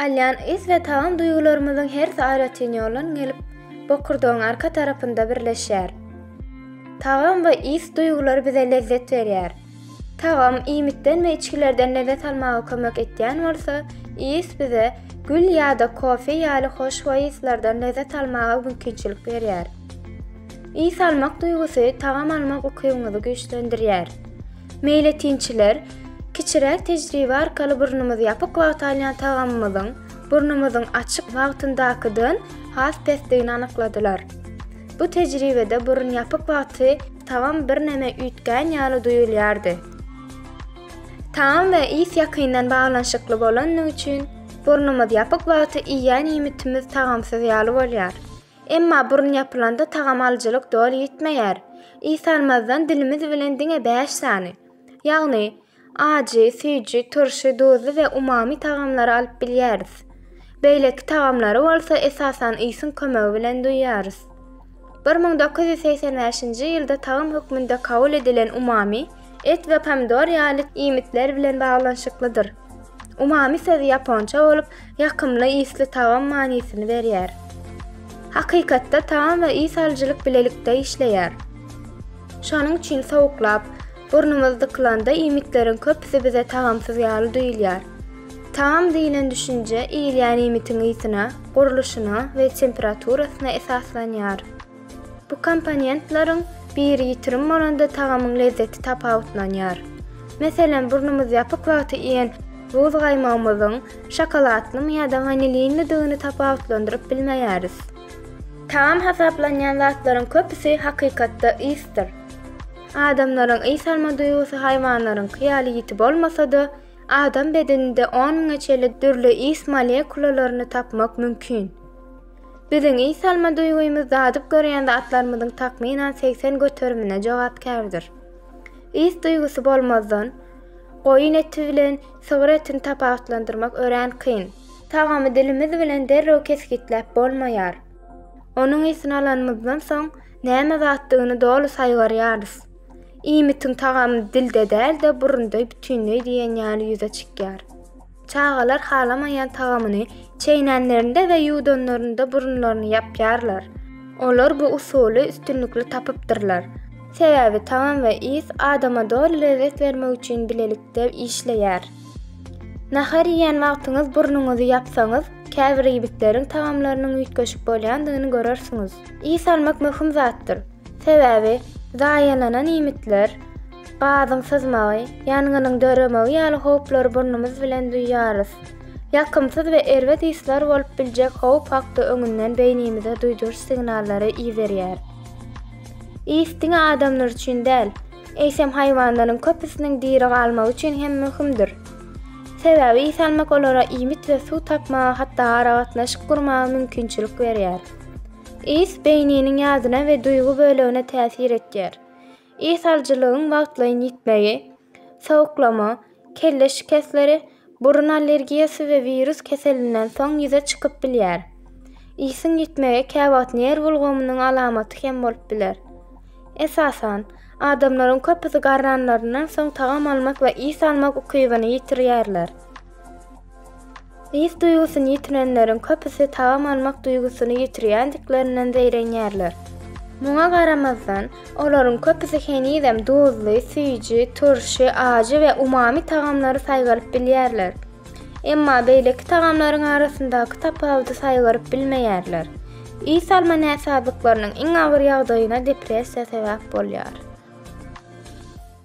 Alýan ys we tagam duýgularymyzyň hersi aýratyn ýoldan gelip, bokurdagyň arka tarapynda birleşýär. Tagam we ys duýgulary bize lezzet berýär. Tagam iýmitden we içgilerden lezzet almaga kömek etýän bolsa, ys bize gül ýa-da kofe ýaly hoşboý yslardan lezzet almaga mümkinçilik berýär. Ys almak duýgusy tagam almak ukybyňyzy güýçlendirýär. Meýletinçiler, Kiçiräk tejribe arkaly burnumyzy ýapyk wagta alýan tagamymyzyň burnumyzyň açyk wagtyndakydan has pesdigini anykladylar. Bu tejribede burun ýapyk wagty tagam birneme üýtgän ýaly duýulýardy. Tagam we ys ýakyndan baglanyşykly bolandygy üçin, burnumyz ýapyk wagty iýýän iýmitimiz tagamsyz ýaly bolýar. Emma burun ýapylanda tagam alyjylyk doly ýitmeýär. Ys almazdan dilimiz bilen diňe bäş sany, ýagny, ajy, süýji, turşy, duzly we umami tagamlary alyp bilýäris. Beýleki tagamlary bolsa esasan ysyň kömegi bilen duýýarys. Bir müň dokuz ýüz segsen bäşinji ýylda tagam hökmünde kabul edilen umami, et we pomidor ýaly iýmitler bilen baglanyşyklydyr. Umami sözi ýaponça bolup, ýakymly ysly tagam manysyny berýär. Hakykatda tagam we ys alyjylyk bilelikde işleýär. Şonuň üçin sowuklap, burnumyz dykylanda iýmitleriň köpüsi bize tagamsyz ýaly duýulýar. Tagam diýlen düşünje iýilýän iýmitiň ysyna, gurluşyna we temperaturasyna esaslanýar. Bu komponentleriň biri ýitirim bolanda tagamyň lezzeti tapawutlanýar. Meselem, burnumyz ýapyk wagty iýen buz gaýmagymyzyň şokoladlymy ýa-da wanilinlidigini tapawutlandyryp bilmeýäris. Tagam hasaplanýan zatlaryň köpüsi hakykatda ysdyr. Adamlaryň ys alma duýgusy haýwanlaryňky ýaly ýiti bolmasa-da, adam bedeninde on müňe çenli dürli ys molekulalaryny tapmak mümkin. Biziň is alma duýgymyz dadyp görýän zatlarymyzyň takmynan segsen göterimine jogapkärdir. Is duýgusy bolmazdan, goýun eti bilen sygyr etini tapawutlandyrmak örän kyn. Tagamy dilimiz bilen derrew kesgitläp bolmaýar. Onuň isini alanymyzdan soň, näme zatdygyny doly saýgarýarys. Iýmitiň tagamy dilde däl-de, burunda bütinleý diýen ýaly ýüze çykýar. Çagalar halamaýan tagamyny çeýnenlerinde we ýuwdanlarynda burunlaryny ýapýarlar. Olar bu usuly üstünlikli tapypdyrlar. Sebäbi tagam we ys adama doly lezzet bermek üçin bilelikde işleýär. Nahar iýen wagtyňyz burnuňyzy ýapsaňyz, käbir iýgitleriň tagamlarynyň üýtgeşik bolýandygyny görersiňiz. Ys almak möhüm zatdyr. Sebäbi zaýalanan iýmitler, Gazyň syzmagy, ýangynyň döremegi ýaly howplary burnumyz bilen duýýarys. Ýakymsyz we erbet yslar bolup biljek howp hakda öňünden beýnimize duýduryş signallary iberýär. Ys diňe adamlar üçin däl, eýsem haýwanlaryň köpüsiniň diri galmagy üçin hem möhümdir. Sebäbi ys almak olara iýmit we suw tapmaga hatda aragatnaşyk gurmaga mümkinçilik berýär. Ys beýniniň ýadyna we duýgy bölegine täsir etýär. Ishal-jylygyň wagtlaýyn ýitmegi, sowuklama, kelle şikesleri, burun allergiýasy we wirus keselinden soň ýüze çykyp bilýär. Isiň ýitmegi käwagt nerw ulgamynyň alamaty hem bolup biler. Esasan, adamlaryň köpüsi garranlaryndan soň tagam almak we is almak ukybyny ýitirýärler. Ys duýgusyny ýitirenleriň köpüsi tagam almak duýgusyny ýitirýändiklerinden zeýrenýärler. Muňa garamazdan, olaryň köpüsi henizem duzly, süýji, turşy, ajy we umami tagamlary saýgaryp bilýärler. Emma beýleki tagamlaryň arasyndaky tapawudy saýgaryp bilmeýärler. Ys alma näsazlyklarynyň iň agyr ýagdaýyna depressiýa sebäp bolýar.